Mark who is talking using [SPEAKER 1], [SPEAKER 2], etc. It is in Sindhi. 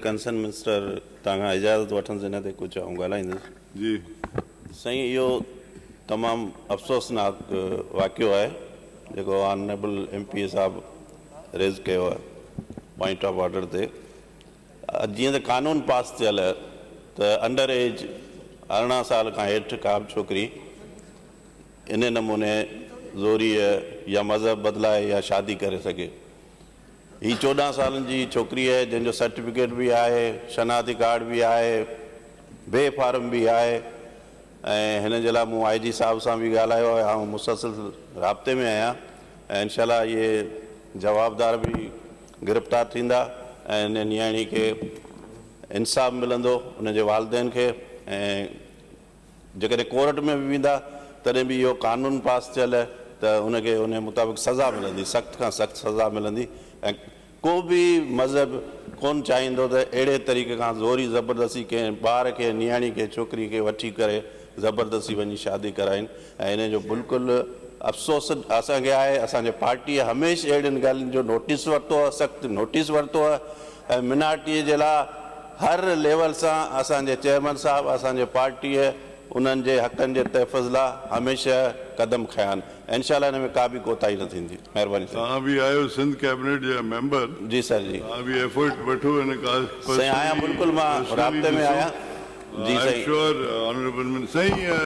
[SPEAKER 1] ڪنسرن منسٽر توهان کان اجازت وٺندس ان تي ڪجهه آئون ڳالهائيندس. جي.
[SPEAKER 2] سائين
[SPEAKER 1] اهو تمام افسوسناڪ واقعو آهي جيڪو آنريبل ايم پي اي صاحب ريز ڪيو آهي پوائنٽ آف آرڊر تي. جيئن ته قانون پاس ٿيل ته انڊر ايج ارڙهن سال کان هيٺ ڪا به ڇوڪري انهي نموني زوريء يا مذهب بدلائي يا شادي ڪري سگهي. هي چوڏهن سالن جي ڇوڪري آهي جنهن جو سرٽيفڪيٽ به آهي، شناختي ڪارڊ به آهي، بي فارم به آهي ۽ هن جي لاء مون آء جي صاحب سان به ڳالهايو آهي آئون مسلسل رابطي ۾ آهيان ۽ انشاء الله اهي جوابدار به گرفتار ٿيندا ۽ ان نياڻي کي انصاف ملندو ان جي والدين کي ۽ جيڪڏهن ڪورٽ ۾ به ويندا تڏهن به اهو قانون پاس ٿيل ته ان کي ان مطابق سزا ملندي سخت کان سخت سزا ملندي ۽ ڪو به مذهب ڪون چاهيندو ته اهڙي طريقي کان زوري زبردستي ڪنهن ٻار کي نياڻي کي ڇوڪري کي وٺي ڪري زبردستي وڃي شادي ڪرائين ۽ ان جو بلڪل افسوس اسان کي آهي، اسان جي پارٽيء هميشھ اهڙين ڳالهين جو نوٽيس ورتو آهي، سخت نوٽيس ورتو آهي ۽ منارٽيء جي لاء هر ليول سان اسان جي چيئرمين صاحب اسان جي پارٽيء انهن جي حقن جي تحفظ لاء هميشه قدم کنيا آهن، انشاء الله ان ۾ ڪا به ڪوتاهي نه ٿيندي. مهرباني سائين. توهان به آهيو سنڌ
[SPEAKER 2] ڪيبنيٽ جا ميمبر جي سر جي. توهان
[SPEAKER 1] به ايفرٽ وٺو
[SPEAKER 2] ان ڪا سائين آهيان
[SPEAKER 1] بلڪل مان
[SPEAKER 2] رابطي
[SPEAKER 1] ۾ آهيان
[SPEAKER 2] جي
[SPEAKER 1] سائين.